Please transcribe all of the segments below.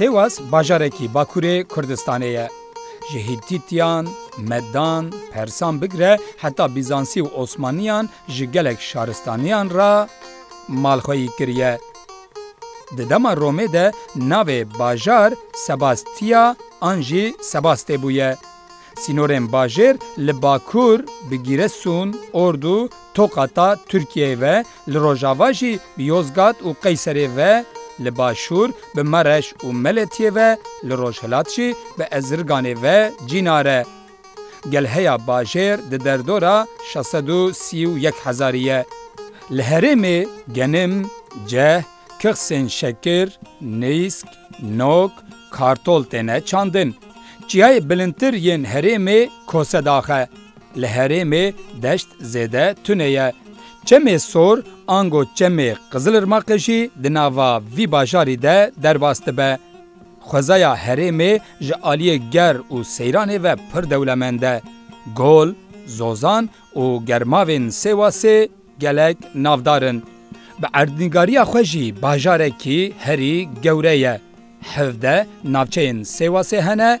Sêwas bajarekî Bakurê Kurdistanê ye. Ji Hîtîtiyan, Medan, Persan bigire heta Bîzansî û Osmaniyan ji gelek şaristaniyan re malxweyî kiriye. Di dema Romê de navê bajar Sebastia an jî Sebaste bûye. Sînorên bajêr li bakur bi Gîresun, Ordu, Tokata, Tirkiyeyê ve, li rojava jî bi Yozgat û Qeyserê ve, li başûr bi Mereş û Meletiyê ve, li rojhilat jî bi Ezirganê ve cînar e. Gel heya bajêr di derdora şeş sed û sî û yek hezarî ye. Li herêmê genim, ceh, kixsên şekir, nîsk, nok, kartol têne çandin. Çiyayê bilindtir yên herêmê Kosedax e. Li herêmê deşt zêde tune ye. Çemê Sor ango çemê Qizilirmaqê jî di nava vî bajarî de derbas dibe. Xwezaya herêmê ji aliyê ger û seyranê ve pir dewlemend e. Gol, zozan û germavên Sêwasê gelek navdar in. Bi erdnîgariya xwe jî bajarekî herî gewre ye. Hevdeh navçeyên Sêwasê hene.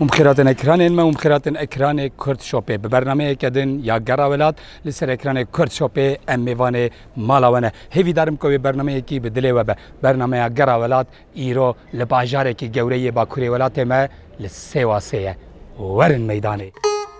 û mixêratên ekranên me û mixêratên ekranê Kurd Shopê bi bernameyeke din ya gera welat li ser ekranê Kurd Shopê em mêvanê mala we ne. Hêvî darim ku wê bernameyekî bi dilê we be. Bernameya Gera Welat îro li bajarekî gewre yê bakurê welatê me li Sêwasê ye. Werin meydanê.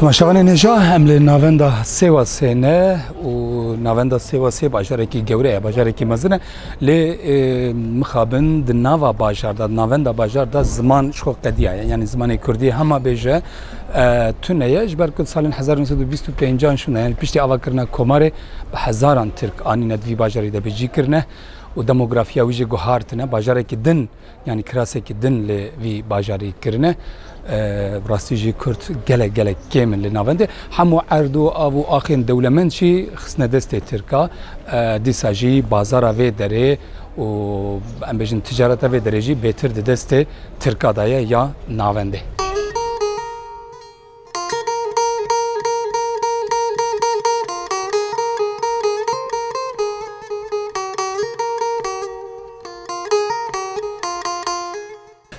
Temaşevanê nêja em li navenda Sêwasê ne û navenda Sêwasê bajarekî gewre ye, bajarekî mezin e. Lê mixabin di nava bajar de, di navenda bajar de ziman ji xwe qediya ye. Yanî zimanê Kurdî hema bê ji tune ye. Ji ber ku di salên hezar û nû sed û bîst û pênc an şûna yanî piştî avakirina komarê bi hezaran Tirk anîne di vî bajarî de bi jî kirine û demografîya wî jî guhartine. Bajarekî din. Yanî kirasekî din li vî bajarî kirine. Bi rastî jî Kurd gelek gelek kêm in li navendê. Hemû erd û av û axên dewlemend jî xistine destê Tirka. Dîsa jî bazara vê derê û em bêjin ticareta vê derê jî bêtir di destê Tirka de ye ya navendê.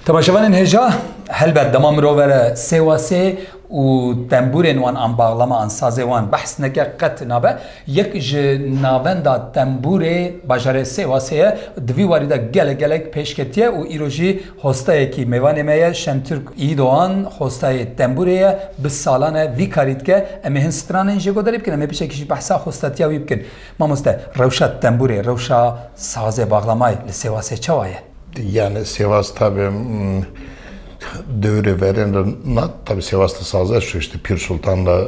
Temaşevanên hêja helbet dema mirov vere sê wa sê û temburên wan an bağlama an sazê wan behs neke qet nabe. Yek ji navenda temburê bajarê sê wa sê ye di vî warî de gelek gelek pêşketiye û îro jî Hostayekî mêvanê me ye Şentürk Î Doğan, hostayê Tembûrê ye, bi salan e vî karî dike. Em ê hin stranên jê godarî bikin, em ê biçekî jî behsa hostatiya wî bikin. Mamoste, rewşa Tembûrê, rewşa sazê Baxlamayê li Sêwasê çawa ye? Yanî Sêwas tabi dewrê verên re na, tabi Sêwas di saze şûşti, Pîrsultan de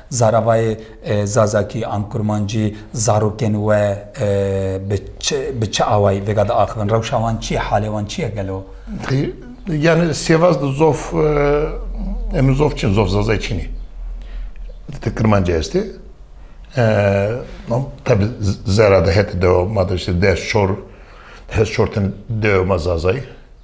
Zaravayê Zazakî an Kurmancî zarokên we bi çi awayî vêga diaxivin? Rewşa wan çi ye? Halê wan çi ye gelo? Yani sêvaz di zof em zof çin zof zazayê çînî di Kurmancî estê. Tabi zera de hete dewa ma de işte ders çor ders çor tene dewa ma zazayî.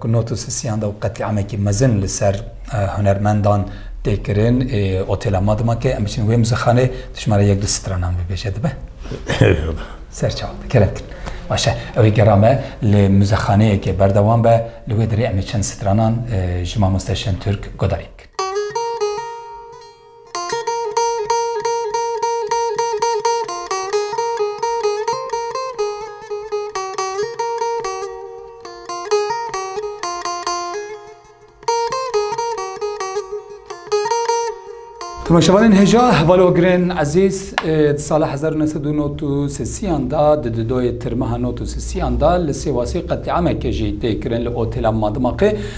Ku not û sisiyan de û qetlîamekî mezin li ser hunermendan tê kirin ê otêla ma dima ke em biçin wê muzixanê dijmara yek du stranan bibêje dibe? Ser çawa be kerem kin. Baş e. Ew ê gera me li muzexaneyeke berdewam be li wê derê em ê çend stranan ji mamoste Şentürk guhdarî bikin. Temaşevanên hêja hevalogirên ezîz di sala hezar û neh sed û nod û sesiyan da di didoyê tirmeha nod û sesiyan da li Sêwasê qetlîameke jî tê kirin li otêla Madimaqê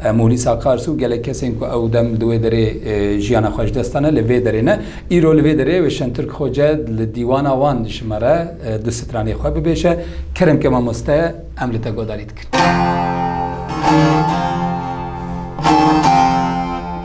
Mûlîsa Kars û gelek kesên ku ew dem di wê derê jiyana xwe ji dest dane li vê derê ne. Îro li vê derê wê Şentürk Xoce li dîwana wan dijimere du stranê xwe bibêje, Kerem ke mamoste ye, em li te guhdarî dikin.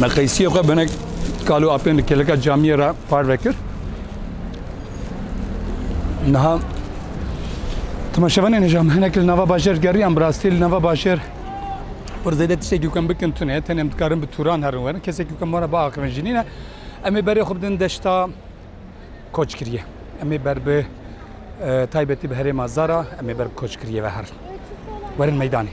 Me qeysiyê xwe binek kalû apên li kêleka camiyê re parve kir. Niha temaşevanên hêja me hinek li nava bajêr geriyan bi rastî li nava bajêr wer zêde tiştekî kem bikin tune tenê em dikarin bi tûran herin werin kesekî kem were biaxivin jînîne em ê berê xwe bidin deşta koç kiriye. Em ê ber bi taybetî bi herêma Zara em ê ber bi koç kiriye ve herin. Werin meydanê.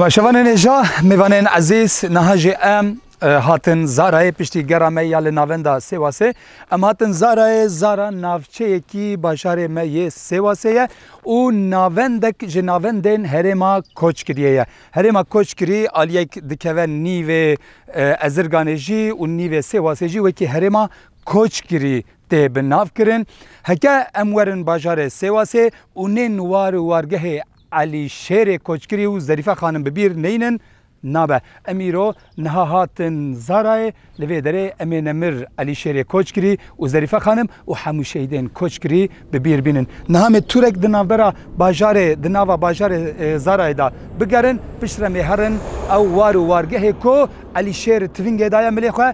Şevanên êja mêvanên ezîz niha jî em Hatin Zarayê piştî gera me ya li navenda Sêwasê em hatin Zarayê, Zara navçeyekî bajarê me yê Sêwasê ye û navendek ji navendên herêma Koçkiriyê ye. Herêma Koçkirî aliyek dikeve nîvê Ezirganê jî û nîvê Sêwasê jî wekî herêma Koçkirî tê bi nav kirin. Heke em werin bajarê Sêwasê û nên war û wargehê Elî Şêrê Koçkirî û Zerîfe Xanim bi bîr neynin Nabe, em îro niha hatin Zarayê, li vê derê em ê Nemir Elîşêrê koç kirî û Zerîfe Xanim û hemû şehîdên koç kirî bi bîr bînin. Niha em ê tûrek di navbera bajarê, di nava bajarê Zarayê de bigerin, piştre em ê herin ew war û wargehê ku Elîşêr tivingê daye milê xwe,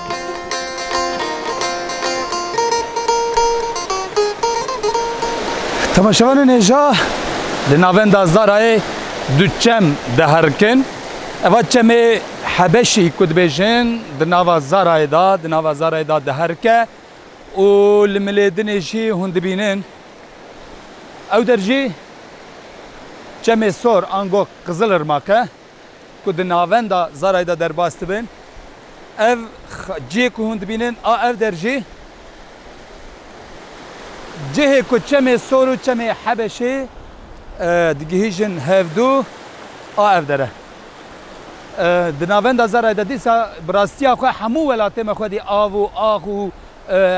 Temaşevanên hêja li navenda Zarayê du çem diherkin. Eva çemê Hebeşî ku dibêjin di nava Zarayê da, di nava Zarayê da diherike û li Milêdinê jî hûn dibînin. Ew der jî çemê sor ango qizilirmak e. ku di navenda Zarayê de derbas dibin. Ev cihê ku hûn dibînin a ev der jî cihê ku çemê Sor û çemê Hebeşê digihîjin hevdu a ev der e. Di navenda Zarayê de dîsa bi rastiya xwe hemû welatê me xwedî av û ax û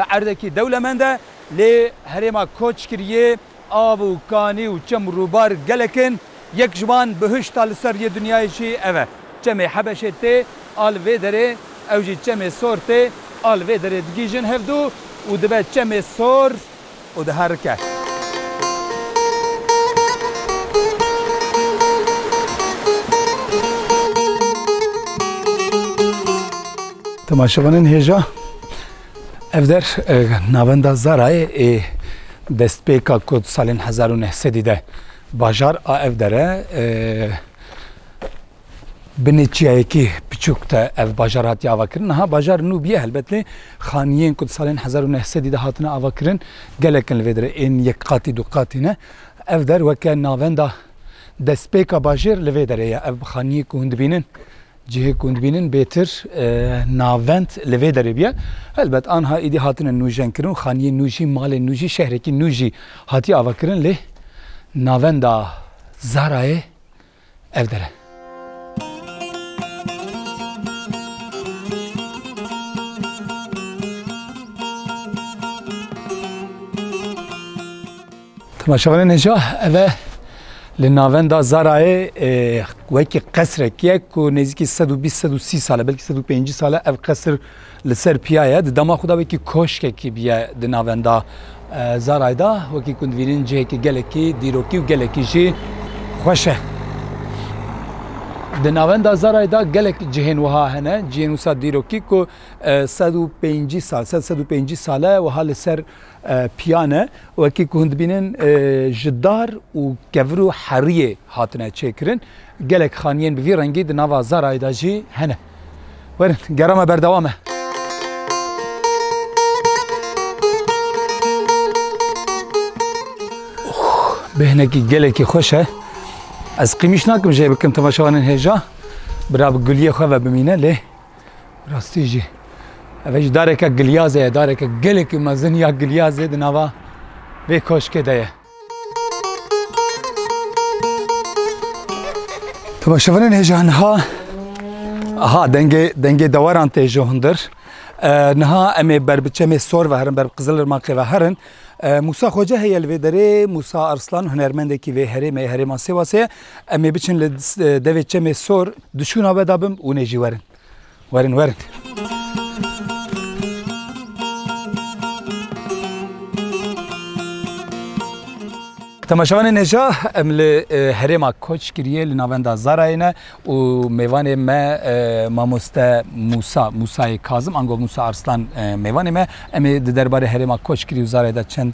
erdekî dewlemend e lê herêma koç kiriyê. Av û kanî û çem û rûbar gelek in. Yek ji wan bihişta li ser yê dinyayê jî ev e. Çemê Hebeşê tê a li vê derê, ew jî çemê sor tê a li vê derê digîjin hevdu û dibe çemê sor û diherike. Temaşevanên hêja Ev der navenda Zarayê ê destpêka ku di salên hezar û neh sedî de bajar a ev dere binê çiyayekî piçûk de ev bajar hatiye avakirin. Niha bajar nû bûye helbet lê xaniyên ku di salên hezar û neh sedî de hatine avakirin gelek in li vê derê ên yek qatî du qatî ne. Ev der weke navenda destpêka bajêr li vê derê ye. Ev bi xaniyê ku hûn dibînin Cihê ku hûn dibînin bêtir navend li vê derê bûye. Helbet anha êdî hatine nûjenkirin û xaniyên nû jî, malên nû jî, şehrekî nû jî hatiye avakirin lê navenda Zarayê ev der e. Temaşevanên hêja ev e li navenda Zarayê wekî qesrek ye ku nêzîkî sed û bîst sed û sî sal e belkî sed û pêncî sal e ev qesir li ser piya ye di dema xwe de wekî koşkekî bûye di navenda Zarayê de wekî ku divînin cihekî gelekî dîrokî û gelekî jî xweş e. Di navenda Zarayê de gelek cihên wiha hene cihên wisa dîrokî ku sed û pêncî sal sed sed û pêncî sal e wiha li ser Piyane, wekî ku hûn dibînin ji dar û kevir û heriyê hatine çêkirin. Gelek xaniyên bi vî rengî di nava Zarayê de jî hene. Werin, gera me berdewam e. Bi hinekî gelekî xweş e. Ez qîmîş nakim jê bikim temaşewanên hêja. Bira bi guliyê xwe ve bimîne lê Rastî jî ev ji dareke gilyazê ye, dareke gelekî mezin ya gilyazê di nava vê koşkê de ye. Teba şevanên hêja niha aha dengê dengê deweran tê ji hundir. Niha em ê ber bi çemê sor ve herin, ber bi qizilirmaqê ve herin. Musa Xoce heye li vê derê, Musa Arslan hunermendekî vê herêmê, herêma Sêwasê ye. Em ê biçin li devê çemê sor di şûna we de bim hûn ê jî werin. Werin werin. Temaşevanê neja em li herêma koç kiriye li navenda Zarayê ne û mêvanê me mamoste Musa Musayê Kazim ango Musa Arslan mêvanê me em ê di derbarê herêma koç kirî û Zarayê de çend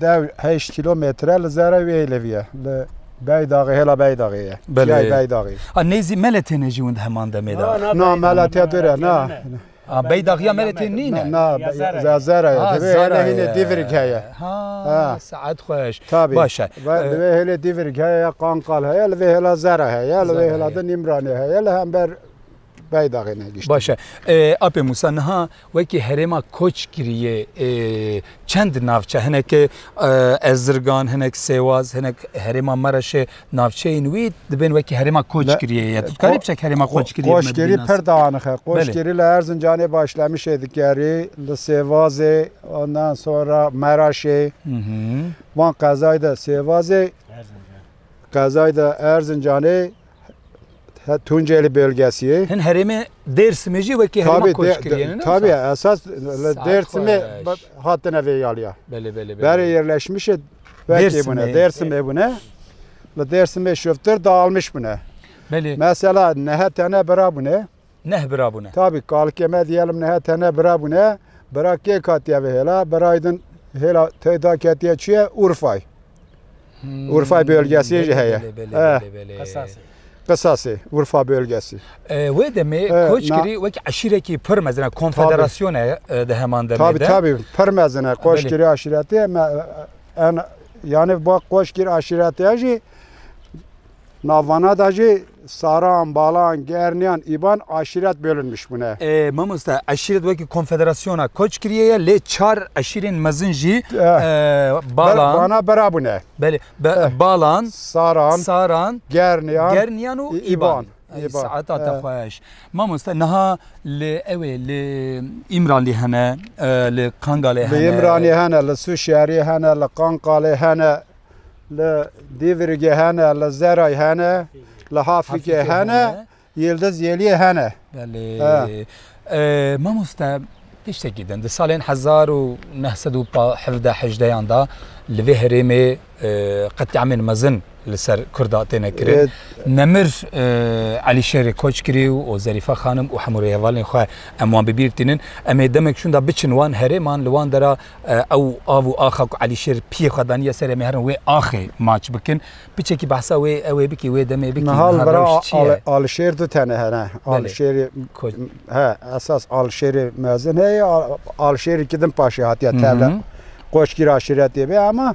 Dew heyşt kîlometre li zerrê wê hêlevî ye. Li Beydaxê hêla Beydaxê ye. Belê. Beydaxê. A nêzî mele têne jî win di heman demê de. Na mele tê dure na. A Beydaxiya mele tê nîne. Na ya zerre ye. Divê hêle hînê Dîvirik heye. Ha saet xweş. Tabî. Baş e. Divê hêlê Dîvirik heye ya Qanqal heye li vê hêla zerre heye li vê hêla de Nîmranê heye li hember Beydaxê ne giştî. Baş e. Apê Mûsa niha wekî herêma koç kirîyê çend navçe hinek Ezirgan, hinek Sêwaz, hinek herêma Mereşê navçeyên wî dibên wekî herêma koç kirîyê ye. Tu dikarî biçek herêma koç kirîyê me bînas. Koçkirî pir danixe. Koçkirî li Erzincanê Başlemişê dikerî, li Sêvazê ondan sonra Mereşê van qezayî de Sêvazê qezayî de Erzincanê He Tunceli bölgesiyê. Hin herêmê Dêrsimê jî wekî herêma koç kiriye ne? Tabi esas li Dêrsimê hatine vê yaliya. Belê belê belê. Berê yerleşmişê vekê bune. Dêrsimê bune. Li Dêrsimê şoftir dağılmış bune. Belê. Mesela nehe tane bira bune. neh bira bûne. Tabî kalkê me diyê lim nehe tenê bira bûne. Bira kê katiye vê hêla? Birayê din hêla teyda ketiye çi ye? Urfay. Urfay bölgesiyê jî heye. Qisasê, Urfa bölgesî. Wê demê Koçgirî wek eşîrekî pir mezin e, konfederasyon e di heman demê de. Tabî tabî pir mezin e. Koçgirî aşîretê me yani ba Koçgirî aşîretê jî Navana da jî Saran, Balan, Gerniyan, Îban eşîret bölünmiş bûne. Mamoste eşîret wekî konfederasyona koç kiriye ye lê çar eşîrên mezin jî Balan, Bana bira bûne. Belê Balan, Saran, Saran, Gerniyan, Gerniyan û Îban. Saeta te xweş. Mamoste niha li ewê li Îmralî hene, li Kangalê hene. Li Îmralî hene, li Sûşiyarî hene, li Kangalê hene. Li Dîvirgê hene, li Zeray hene, li Hafrîkê hene, Yildiz Yeliyê hene. Belê. Mamoste tiştekî din di salên hezar û neh sed û hevdeh hejdeyan da li vê herêmê qetyamên mezin li ser Kurda têne kirin. Nemir Elî Şerê koç kirî û û Zerîfe xanim û hemû rêhevalên xwe em wan bibîr tînin. Em ê demek şûn da biçin wan herêman li wan dera Ew av û axa ku Elîşêr piyê xwe daniye serê me herin wê axê maç bikin. Piçekî behsa wê ew ê bikî wê demê bikî. Niha li vera Alişêr du tane hene. Alişêrê he esas Alişêrê mezin heye Alişêrê ki din paşê hatiye tevle qoçkî re aşiretê bê ama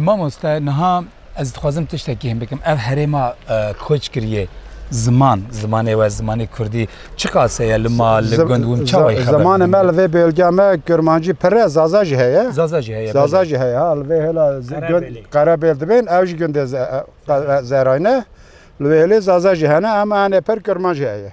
Mamoste niha ez dixwazim tiştekî him bikim. Ev herêma koç kiriye ziman, zimanê we, zimanê Kurdî çiqase ye li mal, li gund win çawa ye? Zimanê me li vê bêlgeya me Kurmancî pir e, Zaza jî heye. Zaza jî heye. Zaza jî heye ha li vê hêla Qerebêl dibên ew jî gundê Zerayne. Li vê hêlê Zaza jî hene em anê pir Kurmanc heye.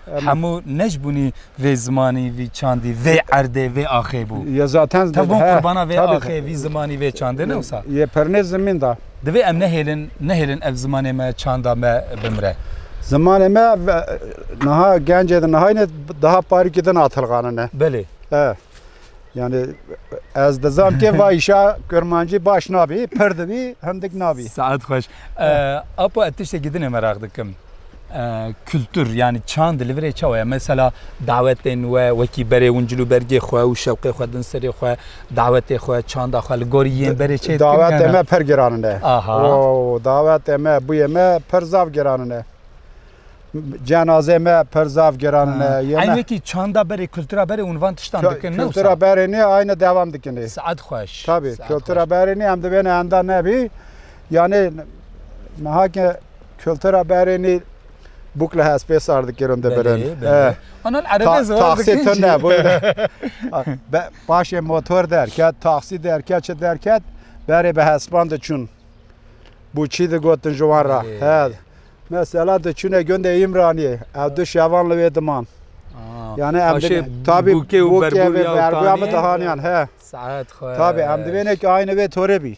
Hemû ne ji bûnî vê zimanî, vî çandî, vê erdê, vê axê bû. Ye zaten Tev bûn qurbana vê axê, vî zimanî, vê çandê ne wisa? Ye pernê zimîn de. Divê em nehêlin, nehêlin ev zimanê me, çanda me bimire. Zimanê me niha gencê di nihayîne daha parîkî din atilxanine. Belê. E. Yani ez dizam ki va işa Kurmancî baş nabî, pir dibî, hindik nabî. Saet xweş. Apo ez tiştekî dinê meraq dikim. Kultur yanî çand li vir ê çawa ye? Mesela dawetên we wekî berê hûn cil û bergê xwe û şewqê xwe din serê xwe, dawetê xwe, çanda xwe li gorî yên berê çê dikin? Dawetê me per giran in e. Aha. Dawetê me, bûyê me per zaf giran in e. Cenazeyê me per zaf giran in e. Eynî wekî çanda berê, kultura berê hûn van tiştan dikin ne wisa? Kultura berê nê eynî dewam dikin ê. Saet xweş. Tabî, kultura berê nê em divêne enda nebî. Yanê meha ke kultura berênî bûk li hespê sar dikirin dibirin. Taxî tu ne paşê motor derket, taxî derket çi derket berê bi hespan diçûn. Bû çî digotin ji wan ra. He mesela diçûne gundê Îmraniyê ew du şevan li wê diman. Yani em tabi bûkê berbuya min dihaniyan he. Tabi em divênek aynê wê torê bî.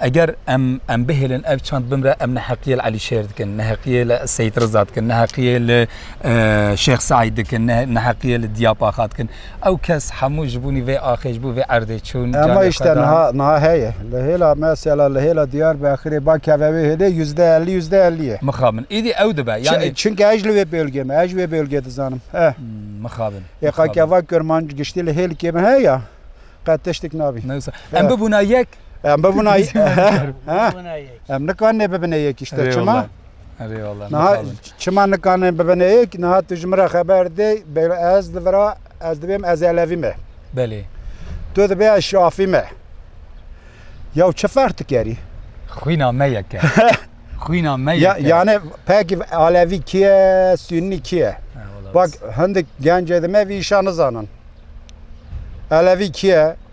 Eger em em bihêlin ev çand bimre em neheqiyê li Elî Şêr dikin, neheqiyê li Seyîd Riza dikin, neheqiyê li Şêx Seîd dikin, neheqiyê li Diya Paxa dikin. Ew kes hemû ji bonî vê axê, ji bo vê erdê çûn. Ema îşte niha niha heye. Li hêla me sela li hêla Diyarbekirê ba keve wê hêlê yüzde ellî yüzde ellî ye. Mixabin. Îdî ew dibe. Yani Çinke ez li wê bölgê me, ez wê bölgê dizanim. E. Mixabin. Ê qakeva Kurmanc giştî li hêlikê me heya. Qet tiştik nabî. Em bibûna yek Em bi vuna em nikanê bibine yekî işte çima? Niha çima nikanê bibine yek niha tu ji min re xeber dê ez li vira ez dibêm ez elevî me. Belê. Tu dibê ez şafî me. Yaw çi ferq dikerî? Xwîna me yeke. Xwîna me yeke. Yani pekî alevî kî ye, sünî kî ye? Bak hindik gencê di me vî îşa nizanin. Elevî kî ye?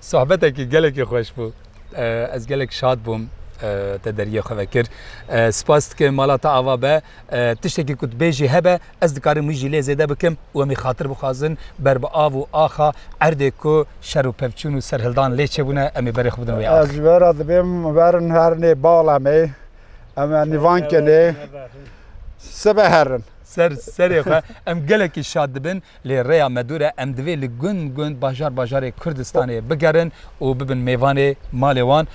Sohbetekî gelekî xweş bû. Ez gelek şad bûm te deriyê xwe vekir. Spas dikim mala te ava be. Tiştekî ku dibêjî hebe ez dikarim wî jî lê zêde bikim û em ê xatir bixwazin ber bi av û axa erdê ku şer û pevçûn û serhildan lê çêbûne em ê berê xwe bidin wê axa. Ez ji we re dibêm werin herinê bala me em ê nîvan kenê sibe herin. Ser serê xwe em gelekî şad dibin. Lê rêya me dûr e, em divê li gund gund, bajar bajarê Kurdistanê bigerin û bibin mêvanê malê wan.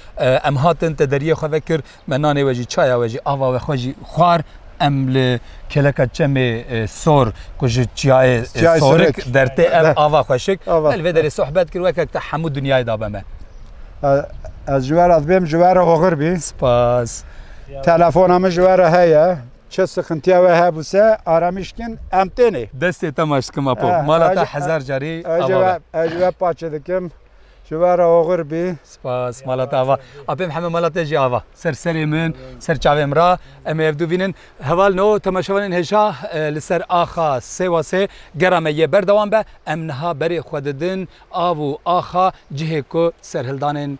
Em hatin, te deriyê xwe vekir, me nanê we jî, çaya we jî, ava we xwe jî xwar. Em li kêleka çemê sor ku ji çiyayê sorik dertê ev ava xweşik, me li vê derê sohbet kir wekek te hemû dinyayê dabe me. Ez ji we re dibêm, ji we re oxir bî. Spas. Telefona min ji we re heye. Çi sıxıntıya we hebuse aramiş kin em tênê. Destê te maş dikim Apo. Mala te hezar carî ava be. Ez ji we paçê dikim. Ji we re oxir bî. Spas. Mala te ava. Apê Mihemed mala te jî ava. Ser serê min, ser çavê min re. Em ê ev du vînin. Heval no temaşevanên hêja li ser axa Sêwasê gera me yê berdewam be. Em niha berê xwe didin av û axa cihê ku serhildanên.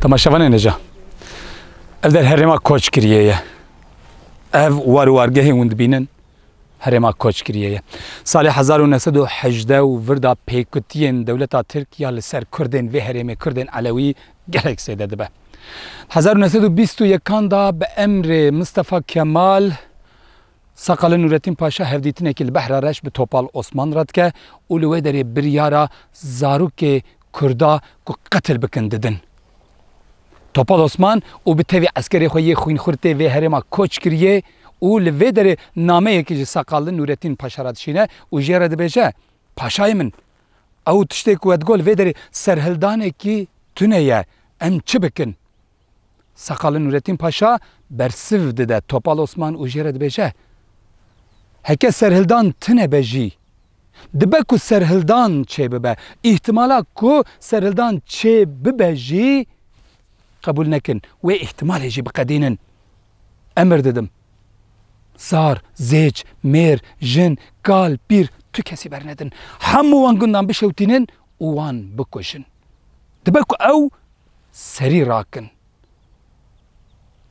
Temaşevanê neca. Ev der herêma koç kiriye ye. Ev war û wargehê hûn dibînin herêma koç kiriye ye. Salê 1918 û virda pêkutiyên dewleta Tirk ya li ser Kurdên vê herêmê Kurdên Elewî gelek zêde dibe. 1921 da bi emrê Mistefa Kemal Sakali Nurettin Paşa hevdîtinekî li Behra Reş bi Topal Osman re dike û li wê derê biryara zarokê Kurda ku qetil bikin didin. Topal Osman û bi tevî eskerê xwe yê xwînxurtê vê herêma koç kiriye û li vê derê nameyekî ji Saqal li Nûretîn Paşa re dişîne û jê re dibêje, Paşayê min, ew tiştê ku we digot li vê derê serhildanekî tune ye, em çi bikin? Seqalê Nûretîn Paşa bersiv dide Topal Osman û jê re dibêje, Heke serhildan tune be jî, dibe ku serhildan çêbibe. Îhtimala ku serhildan çê bibe jî qebûl nekin. Wê îhtimalê jî biqedînin. Emir didim. Zar, zêç, mêr, jin, kal, pîr tu kesî bernedin. Hemû wan gundan bişewtînin û wan bikujin. Dibe ku ew serî rakin.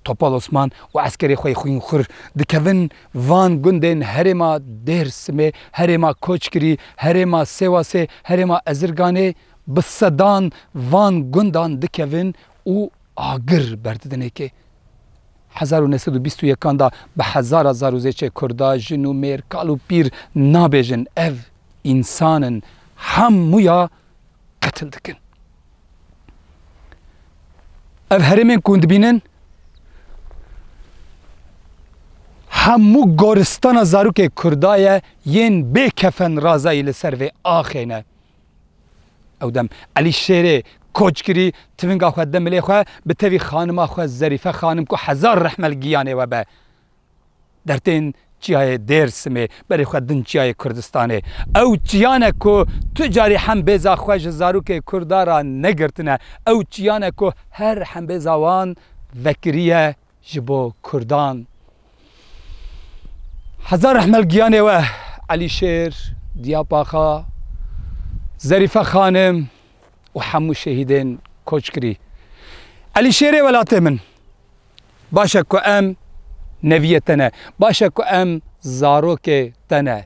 Topal Osman û eskerê xwe yê xwînxur dikevin van gundên herêma Dêrsimê, herêma Koçgirî, herêma Sêwasê, herêma Ezirganê, bi sedan van gundan dikevin û agir berdidin êkê. Hezar û neh sed û bîst û yekan de bi hezara zar û zêçê kurda, jin û mêr, kal û pîr nabêjin ev însan in hemûya qetil dikin. Ev herêmên ku hûn dibînin hemû goristana zarokê kurda ye yên bê kefen razayî li ser vê axê ne. Ew dem Elî Şêrê Koçgirî tivinga xwe di milê xwe bi tevî xanima xwe Zerîfe xanim ku hezar rehme li giyanê we be dertên çiyayê Dêrsimê berê xwe din çiyayê Kurdistanê. Ew çiyan e ku tu carî hembêza xwe ji zarokê Kurda ra negirtine. Ew çiyan e ku her hembêza wan vekiriye ji bo kurdan. Heza rehmel giyanê we Elîşêr, Diyapaxa, Zerîfe xanim û hemû şehîdên koçkirî. Elîşêrê welatê min. Baş e ku em neviyê te ne. Baş e ku em zarokê te ne.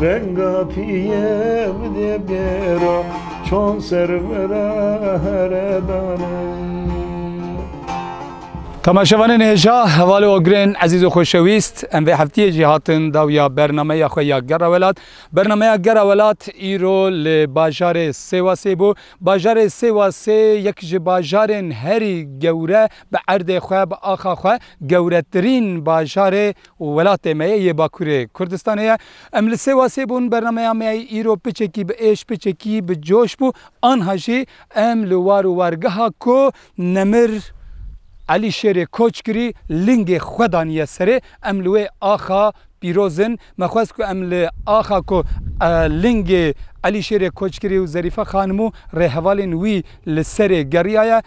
Venga piyem de bêra çand ser vera here dane. Temaşevanên hêja heval û agirên ezîz û xweşewîst, em vê heftiyê jî hatin dawiya bernameya xwe ya Gera Welat. Bernameya Gera Welat îro li bajarê Sêwasê bû. Bajarê Sêwasê yek ji bajarên herî gewre bi erdê xwe, bi axa xwe gewretirîn bajarê, û welatê me ye yê Bakurê Kurdistanê ye. Em li Sêwasê bûn, bernameya me ya îro piçekî bi êş, piçekî bi coş bû. Anha jî em li war û wargeha ku Nemir Elî Şêrê koç kirî, lingê xwe daniye serê. Em li wê axa pîroz in. Me xwest ku em li axa ku lingê Elî Şêrê koç kirî û Zerîfe Xanimû rêhevalên wî li serê geriyaye,